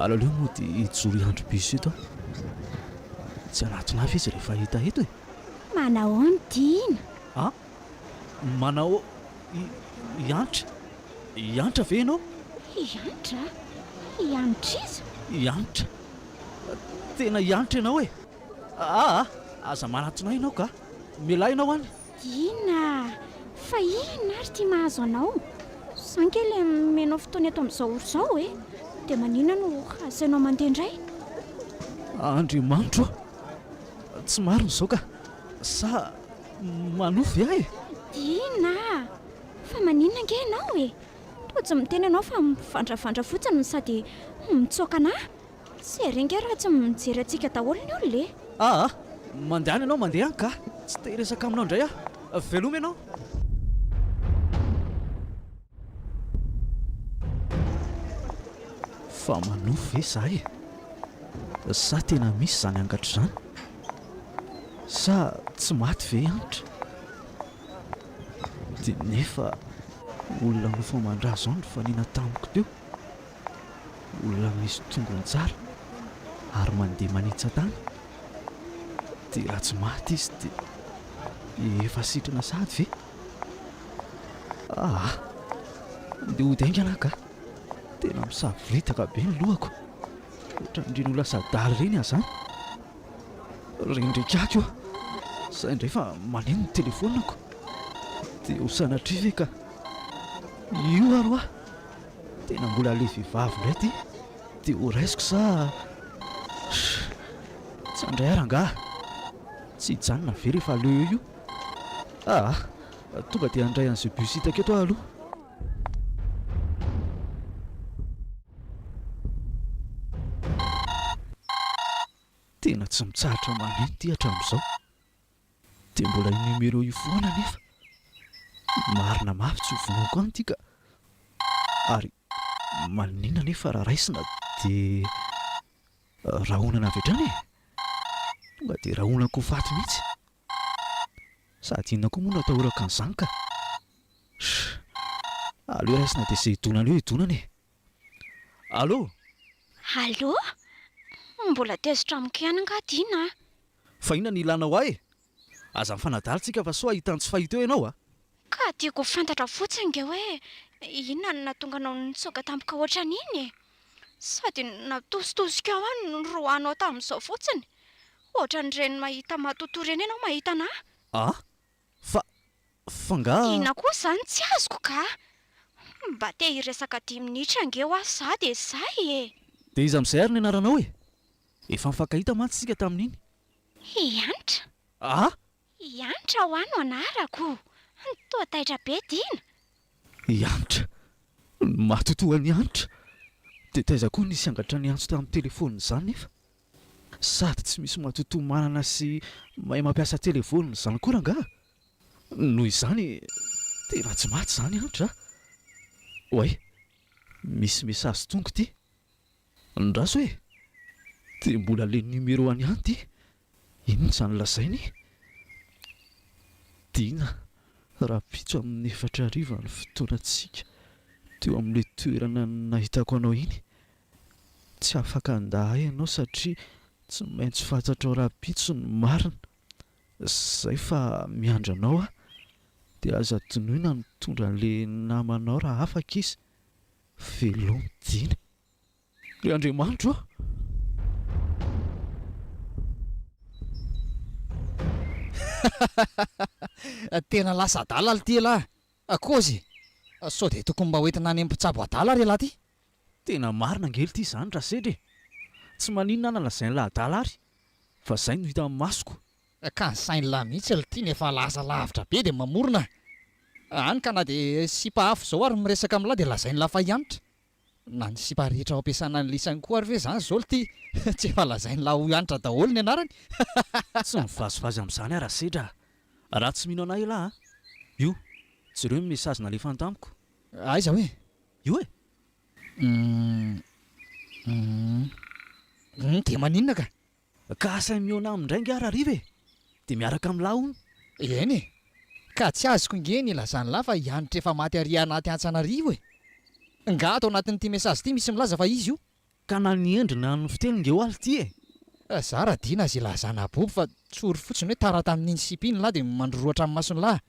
Alaleo moa dia hijoro hiandry bus eto aho. Tsy hanatona ahy ve izy rehefa hahita eto e? Manahoana Tiana? Ah, Manao hiantra? Hiantra ve ianao? Hiantra? Hiantr'iza? Hiantra? Tena hiantra ianao e! Aa! Aza manatona ahy ianao ka! Mialà ianao any! Inona? Fa inona ary ity mahazo anao? Za ankely mianao fotoana eto amin'izao ora izao e! Dia maninona no asainao mandeha indray? Andriamanitro ô! Tsy marina izao ka! Sa. Manohy ve aho e? Inona? Fa maninona ange ianao e? Toa tsy miteny ianao fa mivandravandra fotsiny no sady mitsoaka anà. Tsy ery ange raha tsy mijery antsika daholo ny olona e! Aa! Mandehana ianao, mandeha any ka! Tsy te hiresaka aminao indray aho. Veloma ianao! Fa manohy ve izahay e? Sa tena misy izany angatra izany? Sa tsy maty ve i Hanitra? Dia nefa olona nofo aman-dra izao no nifanena tamiko teo, olona misy tongony tsara ary mandeha manetsa-tany, dia raha tsy maty izy dia efa sitrana sahady ve? Ah ah! Andeha hody haingana aho kah! Tena misavoritaka be ny lohako, ohatran'ireny ho lasa adala ireny aho izany. Rendrika aky aho, sahy indray fa maneno ny telefonako. Dia ho sanatria ve ka io ary hoa! Tena mbola ilay vehivavy indray ity, dia ho raisiko sa? Shh! Tsy handray ahy rangaha! Tsy hijanona ve rehefa aleo eo io? Ah ah! Tonga dia handray an'izay bus hitako eto aho aloha. Tena tsy mitsahatra maneno ity hatramin'izao. Dia mbola io numéro io foana anefa. Marina mafy tsy ho vonoiko any ity ka. Ary maninona anefa raha raisina dia rahonana avy hatrany e? Tonga dia rahonako ho faty mihitsy. Sady inona koa moa no atahorako an'izany ka! Shh! Aleo raisina dia izay hidonana eo hidonana e! Allo! Allo! Mbola tezitra amiko ihany angaha Dina a! Fa inona no ilanao ahy e! Aza mifanadala tsika fa soa hahita ny tsy fahita eo ianao a! Ka tiako ho fantatra fotsiny nge hoe inona no nahatonga anao nitsoaka tampoka ohatran'iny e! Sady natositosika ao aho no niroahanao tamin'izao fotsiny! Ohatran'ireny mahita matotoa ireny ianao mahita anà! A! Fa, fa nga. Inona koa izany tsy azoko ka! Mba te hiresaka dimy minitra ange hoa za dia zay e! Dia iza amin'izay ary ny anaranao e? Efa nifankahita mantsy isika tamin'iny. Hiantra. A! I Hanitra hoa no anarako. Toa taitra be Dina. I Hanitra. Ny maty toa an'i Hanitra. Dia taiza koa nisy angatra niantso tamin'ny telefaonina izany nefa? Sady tsy misy matotoa manana sy mahay mampiasa telefaonina izany koa rangaha. Noho izany, tena tsy maty izany Hanitra a! Oay, misy message tonga ity. Andraso e! Dia mbola le numero an'i Hanitra ity. Inona izany lazaina e? Dina, rahampitso amin'ny efatra hariva ny fotoanantsika teo amin'ilay toerana nahitako anao iny. Tsy afaka handà ahy ianao satria tsy maintsy fantatrao rahampitso ny marina. Izay fa miandry anao aho. Dia aza adinoy na mitondra an'ilay namanao raha afaka izy. Veloma Dina. Ry Andriamanitro a! Tena lasa adala alo ty elah a! Kozy e! Sao dia tokony mba hoentina any amin'ny mpitsabo adala ary elah ty? Tena marina ange lty izany Rasedra e! Tsy maninona na lazain'lah adala ary fa izay no hita amin'ny masoko. Ka ny sain'lah mihitsy lty no efa lasa lavitra be dia mamorona a! Hany ka na dia sipa hafa izao ary miresaka amin'lah dia lazain'lah fa hiantra. Na ny sipa rehetra ao ampiasana ny lisany koa ary ve zany zao lty tsy efa lazainy la hoy Hanitra daholo ny anarany hahaha. Tsy mivazivazy amin'izany aho Rasedra a! Raha tsy mino anay elah a! Io, jereo ny message nalefany tamiko. Aiza hoe? Io e! Humm humm humm dia maninona ka! Ka asainy mihaona aminy indray angaha Rahariva e! Dia miaraka amin'ny lahy hono. Eny e! Ka tsy azoko ange ny ilazan'ny lahy fa i Hanitra efa maty ary anaty antsy an'arivo e! Ngaha ato anatin'ity message ity misy milaza fa izy io? Ka na ny endriny na ny fiteny nge oaly ity e! Za raha dina azy ilazana abobo fa tsory fotsiny hoe tara tamin'iny sipa iny ny lahy dia mandrorohatra ny mason'ny lahy.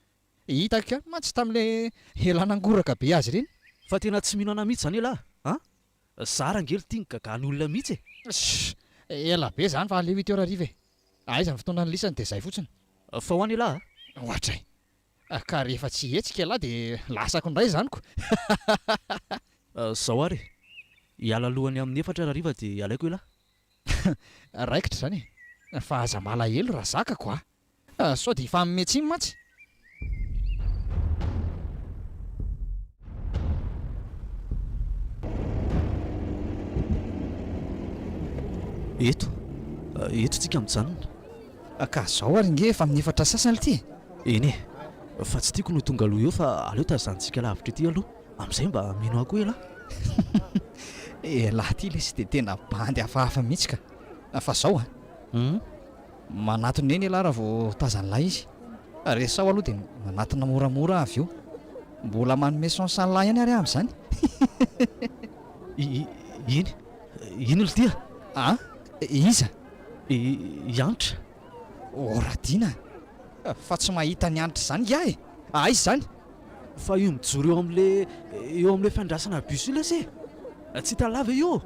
Hitako ihany mantsy tamin'ilay elan'angoraka be azy ireny. Fa tena tsy mino anà mihitsy izany elah a! Za rangely tia ny gagan olona mihitsy e. Sssh! Ela be zany fa aleo huit heures hariva e! Aiza ny fotoana nilisany dia zay fotsiny. Fa ho any elah a! Ohatray! Ka rehefa tsy hihetsika elah dia lasako indray izany ko! Hahahahahah! Zao ary e! Hiala alohany amin'ny efatra hariva dia alaiko elah! Raikitra izany e! Fa aza malahelo raha zakako a! Ah sao dia hifanome tsiny mantsy. Eto, eto tsika mijanona. Ah, ka zao ary nge efa amin'ny efatra sasany ity e. Eny e, fa tsy tiako no tonga aloha eo fa aleo tazanintsika lavitra ety aloha, amin'izay mba mino ahy koa elah. Elah ity lesy dia tena bandy hafahafa mihitsy ka. Fa zao an. Hum. Manatona eny ialahy raha vao tazan'ilay izy. Resaho aloha dia manatona moramora aho avy eo. Mbola manome sens an'ilay ihany ary aho amin'izany. I, iny, iny Lydia. A, iza? I, i Hanitra. Horadina fa tsy mahita an'i Hanitra izany hiahy e! Aiza izany? Fa io mijoro eo amin'le eo amin'le fandrasana bus io lesy e! Tsy hitan'la ve io?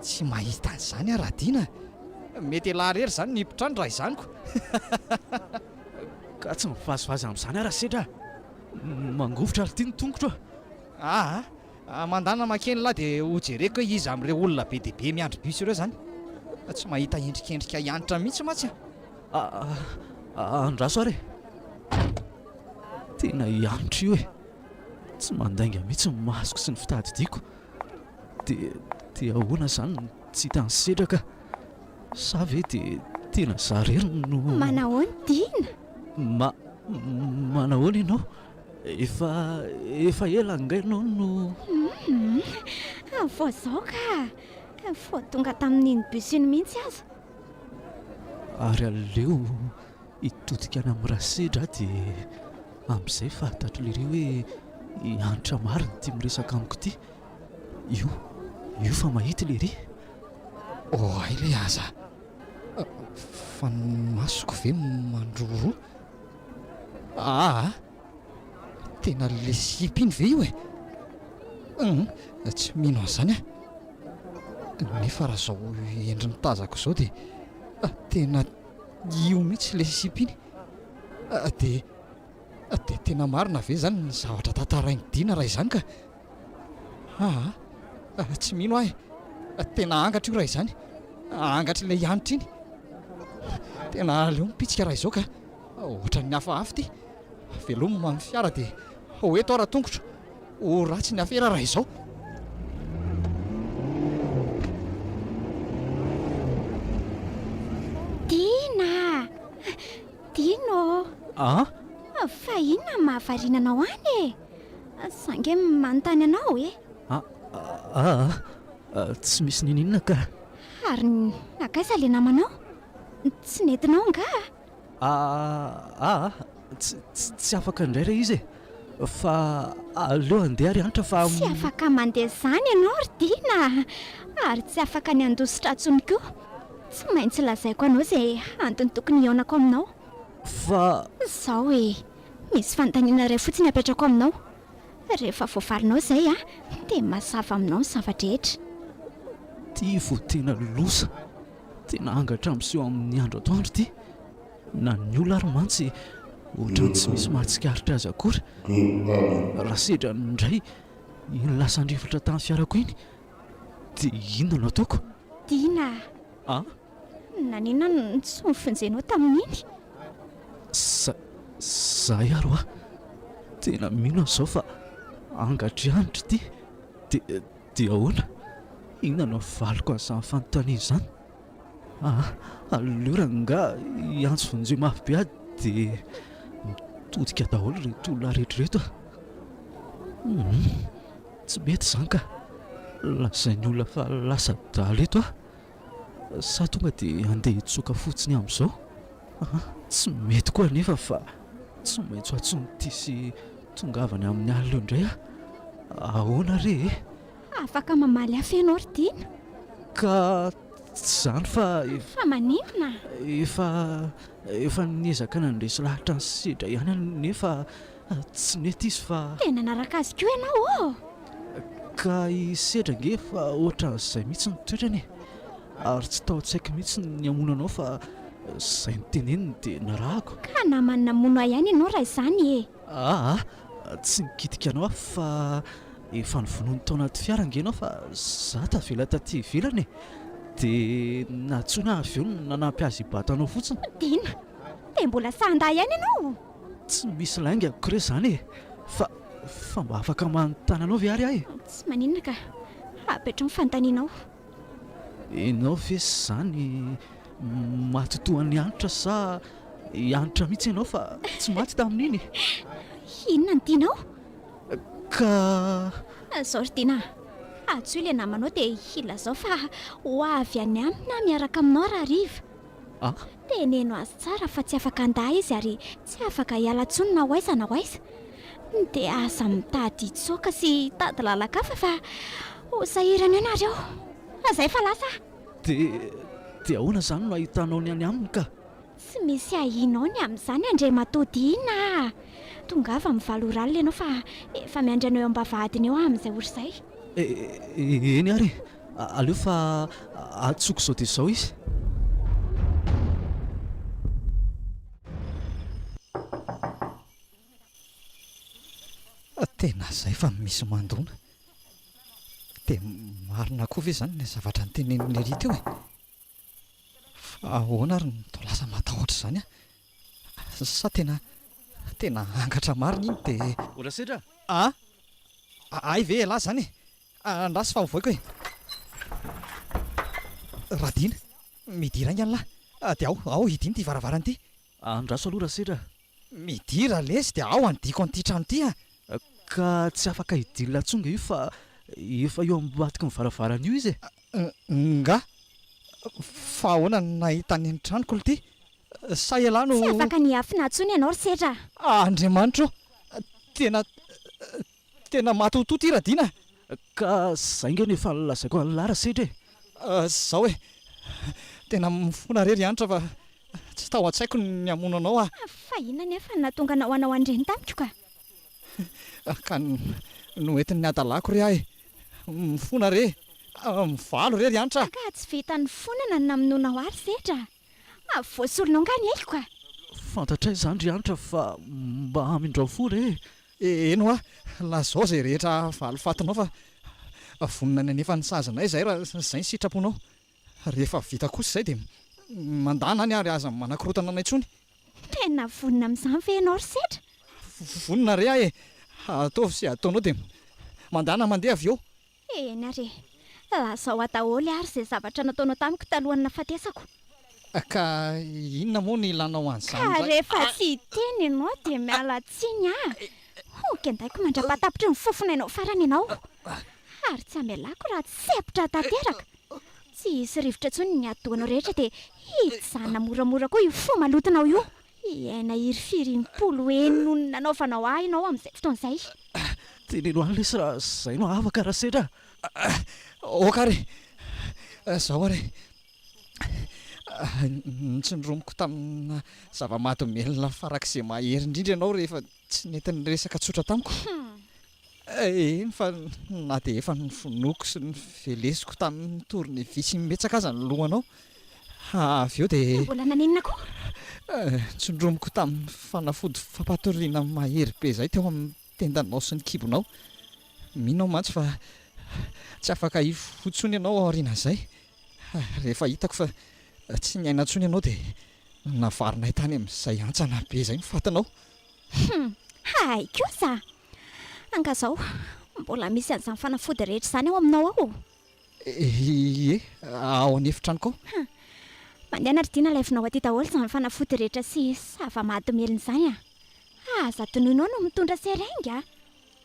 Tsy mahita an'izany aho Radina a! Mety elah rery izany ny hipotrany raha izany ko! Ka tsy mivazivazy amin'izany aho Rasedra a! Mangovitra r'ity ny tongotro a! Aa! Mandana makeny lah dia ho jereko hoe iza amin'ireo olona be dia be miandry bus ireo izany! Tsy mahita endrikendrika hiantra mihitsy mantsy a! Andraso ary e! Tena hiantra io e! Tsy mandainga mihitsy ny masoko sy ny fitadidiako. Dia dia ahoana izany no tsy hitan'i Sedra ka? Sa ve dia tena izaho irery no. Manahoana Dina? Ma manahoana ianao? Efa efa ela angaha ianao no. Hum vao izao ka! Vao tonga tamin'iny bus iny mihitsy aza. Ary aleo. Hitodika any amin'ny Rasedra aho dia amin'izay fahatatro lery hoe i Hanitra marina ity miresaka amiko ity. Io, io fa mahita lery. Oay le aza a! Fa ny masoko ve mandroroa? Aa! Tena le slip iny ve io e? Hum! Tsy mino an'izany aho. Nefa raha izao endriny tazako izao dia tena. Io mihitsy ilay sipa iny. Dia dia tena marina ve izany ny zavatra tantarain'i Dina raha izany ka? Aa! Tsy mino aho e! Tena angatra io raha izany. Angatr'ilay hanitra iny. Tena aleo mipitsika raha izao ka! Ohatran'ny hafahafa ity. Veloma ny fiara dia ho eto aho raha tongotra. Ho ratsy ny afera raha izao. Dina! Dino! Ah? Fa inona no mahavariana anao any e? Za nge manontany anao e. Ah, ah, ah, tsy misy n'ininona ka. Ary nakaiza le namanao? Tsy nentinao angaha? Aa aa tsy tsy afaka indray re izy e! Fa aleo handeha ry Antra fa. Tsy afaka mandeha izany ianao ry Dina a! Ary tsy afaka ny handoa sitra intsony koa! Tsy maintsy lazaiko anao izay antony tokony hihaonako aminao. Fa. Izao e! Misy fanontaniana iray fotsiny apetrako aminao. Rehefa voavalinao izay a, dia mazava aminao ny zava-drehetra. Tia vao tena loza. Tena angatra miseho amin'ny andro atoandro ity, na ny ola ary mantsy ohatran'ny tsy misy mahatsikaritra azy akory. Raha sedra indray iny lasan-drivotra tamin'ny fiarako iny dia inona no ataoko? Tiana a! Ah? Naninona no tsy nofonjenao tamin'iny? Za, zahay ary hoa tena mino an'izao fa angatra ihany ry ity, dia Dia ahoana? Inona no havaliko an'izany fanontaniana izany? Aa, aleo rangaha hiantso vonjeo mafy be aho dia mitodika daholo ireto olona rehetra ireto a! Humm, tsy mety izany ka! Lazain'ny olona fa lasa adala eto aho. Sa tonga dia handeha hitsoaka fotsiny amin'izao? Aha, tsy mety koa anefa fa tsy maintsy ho antson'ity sy tongavany amin'ny alina eo indray aho. Ahoana re e? Afaka mamaly ahy ve ianao ry Tiana? Ka tsy izany fa efa. Fa maninona? Efa, efa niezaka nandresy lahatra ny sedra ihany aho nefa. Tsy nety izy fa. Dia nanaraka azy koa ianao ô! Ka i Sedra ange efa ohatran'izay mihitsy ny toetrany e! Ary tsy tao an-tsaiko mihitsy ny hamono anao fa izay noteneniny dia narahako. Ka namany namono ahy ihany ianao raha izany e! Aa! Tsy nikitika anao aho fa efa novonoiny tao anaty fiara ange ianao fa izaho tavela taty ivelany e! Dia nantsoina aho avy eo nanampy azy hibata anao fotsiny. Dina! Dia mbola sahandahy ihany ianao! Tsy misy lainga amiko re zany e! Fa, fa mba afaka manontany anao ve ary aho e? Tsy maninona ka! Hapetro ny fanontanianao. Ianao ve zany maty toa an'i Hanitra sa i Hanitra mihitsy ianao fa tsy maty tamin'iny e? Inona no tianao? Ka. Zao ry Dina a! Antsoy ilay namanao dia ilazao fa ho avy any aminy aho miaraka aminao raha hariva. Ah! Teneno azy tsara fa tsy afaka handà izy ary tsy afaka hiala intsony na ho aiza na ho aiza. Dia aza mitady hitsoaka sy hitady lalan-kafa fa ho sahirana eo nareo. Aza efa lasa ah! Dia, dia ahoana izany no ahitanao ny any aminy ka? Tsy misy ahianao ny amin'izany Andriamatoa Dina ah! Tongava mivaly oralina ianao fa efa miandry anao eo am-bavahadiny eo aho amin'izay ory izay. E, eny ary e! Aleo fa antsoiko izao dia izao izy. Tena izay fa misy mandona. Dia marina koa ve izany ilay zavatra notenenin'i Nelly teo e? Fa ahoana ary no toa lasa matahotra izany aho? Sa tena, tena angatra marina iny dia. Ora Sedra a! Hay ve ialahy izany e? Andraso fa ho voiko e! Radin, midira ainga anlah dia ao ao hidino ity varavarana ity. Andraso aloha Rasedra. Midira lesy dia ao handiako an'ity trano ity a! Ka tsy afaka hidinina intsony nga io fa efa eo ambadiky ny varavarana io izy e! Nga! Fa ahoana no nahita an'iny tranoko lty? Sa elah no. Tsy afaka nihafina intsony ianao ry Sedra a! Andriamanitra o! Tena Tena matotoa ty Radina a! Ka zay nge no efa lazaiko an'i Lara sedra e! Zao e! Tena mifona re ry Hanitra fa tsy tao an-tsaiko ny hamono anao a! Fa inona anefa no nahatonga anao hanao an'ireny tamiko ka? Ka noentin'ny hadalako re ahy mifona re! Mivalo re ry Hanitra a! Ka tsy vitan'ny fonana no namonoanao ahy ry sedra a! Avy voasorona angaha ny aiko a! Fantatray izany ry Hanitra fa mba hamindrao fo re e! Eny hoa, lazao izay rehetra valifatinao fa vonona ny hanefa ny sazinay izahay raha izay ny sitraponao. Rehefa vita kosa izay dia mandàna any ary aza manakorotana anay intsony. Tena vonona amin'izany ve ianao ry Sedra? Vonona re aho e! Ataovy izay ataonao dia mandàna mandeha avy eo. Eny ary e! Lazao aho daholo ary izay zavatra nataonao tamiko talohan'ny nahafatesako. Ka inona moa no ilanao an'izany indray? Ka rehefa tsy hiteny ianao dia miala tsiny aho. Ho kendaiko mandra-pahatapitry ny fofonainao farany ianao. Ary tsy hamelako raha tsy sempotra tanteraka. Tsy hisy rivotra intsony ny atidohanao rehetra dia hijanona moramora koa io fo malotonao io. Hiaina hirifiry impolo heny noho ny nanaovanao ahy ianao amin'izay fotoana izay. Teneno any lesy raha izay no afaka raha sedra a! Aoka ary izao ary ny tsy nironiko tamina zava-mahadomelina farak'izay mahery indrindra ianao rehefa tsy nety niresaka tsotra tamiko. Eny fa na dia efa nofonoiko sy novelesiko tamin'ny tournevis imbetsaka aza ny lohanao, avy eo dia. Mbola nanenina koa! Ntsondromiko tamin'ny fanafody fampatoriana mahery be izay teo amin'ny tendanao sy ny kibonao. Mino aho mantsy fa tsy afaka hifoha intsony ianao aorianan'izay. Rehefa hitako fa tsy niaina intsony ianao dia navarinay tany amin'izay hantsana be izay ny fatinao. Humm! Hay kosa! Angazao, mbola misy an'izany fanafody rehetra izany ao aminao ao? Ie, ao an'efitranoko ao. Hum. Mandeha na ry Dina alaivinao aty daholo izany fanafody rehetra sy zava-mahadomelina izany a! Aza adinoinao no mitondra seringue a!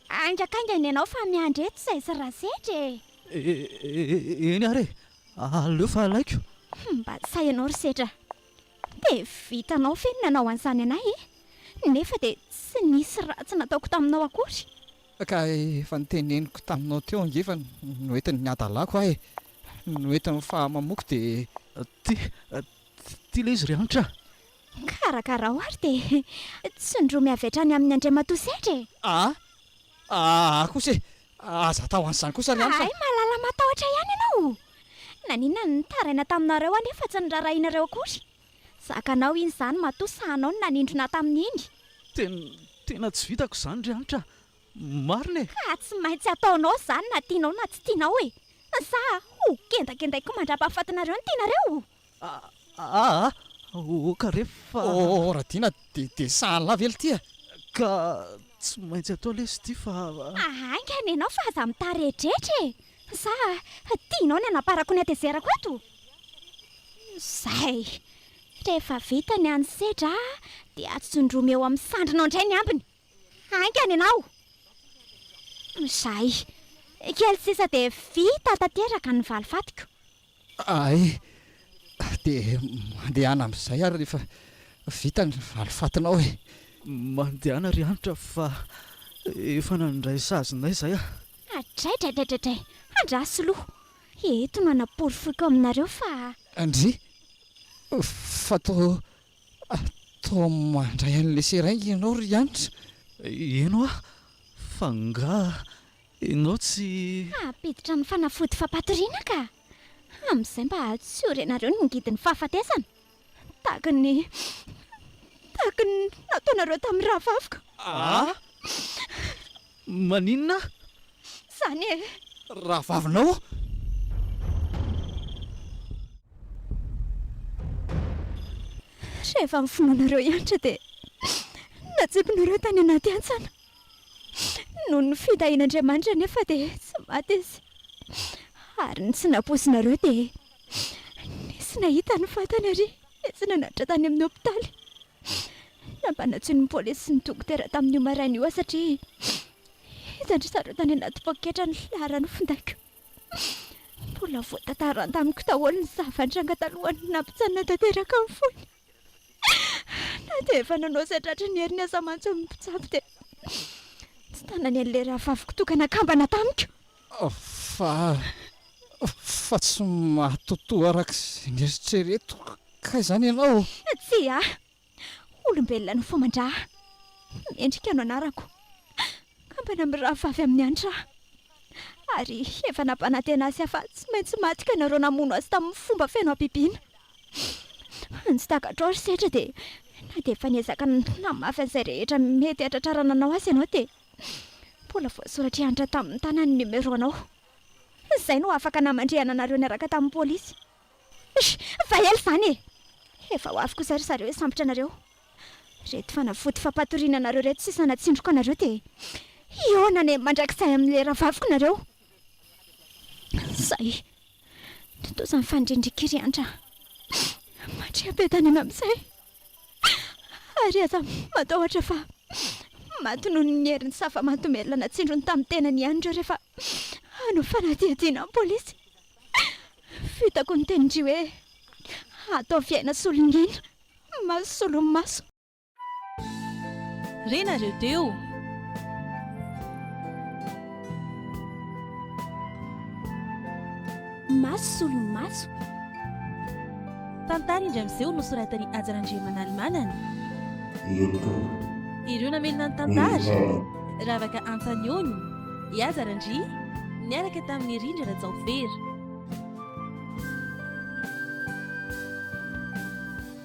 Haingakaingana ianao fa miandry eto izay sy Rasetra e! Eny ary e! Aleo fa alaiko. Hum, mba tsy sahy ianao ry Setra. Dia vitanao ve ny nanao an'izany anay e? Nefa dia tsy nisy ratsy nataoko taminao akory. Ka efa noteneniko taminao teo ange fa noentin'ny hadalako aho e! Noentin'ny fahamamoko dia. Ty, ty ilay izy ry Hanitra. Karakarao ary dia tsindromy avy hatrany amin'i Andriamatoa Sedra e! Aa, aa kosa e! Aza atao an'izany kosa ry Hamsa. Hay mahalala matahotra ihany ianao. Naninona ny nitaraina taminareo anefa tsy norarahianareo akory? Zakanao iny izany matoa sahanao ny nanindrona tamin'iny. Tena, tena tsy vitako izany ry Hanitra a! Marina e! Ka tsy maintsy ataonao izany na tianao na tsy tianao e! Sa ho kendakendaiko mandra-pahafatinareo ny tianareo? A a ok re fa. Oh Radiana de de sahala lahy ve litia? Ka tsy maintsy atao lesy ity fa. Haingana ianao fa aza mitaredretra e! Sa tianao ny hanamparako ny hatezerako eto? Izay! Rehefa vita ny an'ny sedra dia atsindromeo amin'ny sandrinao indray ny ambiny! Haingana ianao! Izay. Kely sisa dia vita tanteraka ny valifatiko. Hay! Dia mandehana amin'izay ary rehefa vita ny valifatinao e! Mandehana ry Hanitra fa efa nandray sazinay izay aho. Adraidraidraidray! Andraso loha! Eto no hanaporofoiko aminareo fa. Ndry! Fa toa Atao mandray an'ilay seringue ianao ry Hanitra? Eny hoa, fa ngaha ianao tsy. Hampiditra amin'ny fanafody fampatoriana ka! Amin'izay mba hahatsorinareo ny ngidin'ny fahafatesana, tahaka ny tahaka ny nataonareo tamin'ny rahavavikoo. Aa! Maninona? Izany e! Rahavavinao? Rehefa amin'ny finoanareo hiantra dia natsipinareo tany anaty hantsana. Noho ny fitahian'Andriamanitra anefa dia tsy maty izy. Ary ny tsy nampoizinareo dia Nisy nahita ny vatany ary etsy nanatitra tany amin'ny hopitaly. Nampanantsoin'ny polisy sy ny dokotera tamin'io maraina io aho satria hitan-dry zareo tany anaty poketra ny filaharan'ny findaiko. Mbola voatantarany tamiko daholo ny zava-nitranga talohan'ny nampitsanina tanteraka ny fony. Na dia efa nanao izay tratry ny heriny aza mantsy ny mpitsabo dia tsy tanany an'ilay rahavaviko toa ka nakambana tamiko. Fa, fa tsy mahatotoa araka izay neritreretiko kay izany ianao? Tsia. Olombelona no faman-drà. Mendrika no anarako. Kambana amin'ny rahavavy amin'ny Hanitra aho. Ary efa nampanantena azy fa tsy maintsy maty ka nareo namono azy tamin'ny fomba feno habibiana. Ny tsy takatrao ry Setra dia na dia efa niezaka namafy an'izay rehetra mety hahatratrarana anao azy ianao dia mbola voasoratry antitra tamin'ny tanany ny numéro anao. Izay no afaka namandrihana anareo niaraka tamin'ny polisy. Eish! Efa ela izany e! Efa ho avy kosa ry zareo hisambotra anareo. Ireto fanafody fampatoriana anareo ireto sisa natsindroko anareo dia hihaona any mandrakizay amin'ilay rahavaviko nareo. Zay. Tontosa ny fanirian'ireo ry Andra. Mandria am-piadanana amin'izay ary aza matahotra fa maty noho ny herin'ny safa mahadomelina natsindrony tamin'ny tenany ihany ireo rehefa hanao fanadihadiana amin'ny polisy. Fitako ny tenin-dry hoe, ataovy aina solon'aina, maso solon'ny maso. Re nareo teo. Maso solon'ny maso. Tantara indray miseho nosoratan'i Haja Randriamanalimanana. Ireo mpitondra. Ireo namelona ny tantara. Ravaka Antanioni, i Haja Randri, niaraka tamin'i Rindra Rajaofera.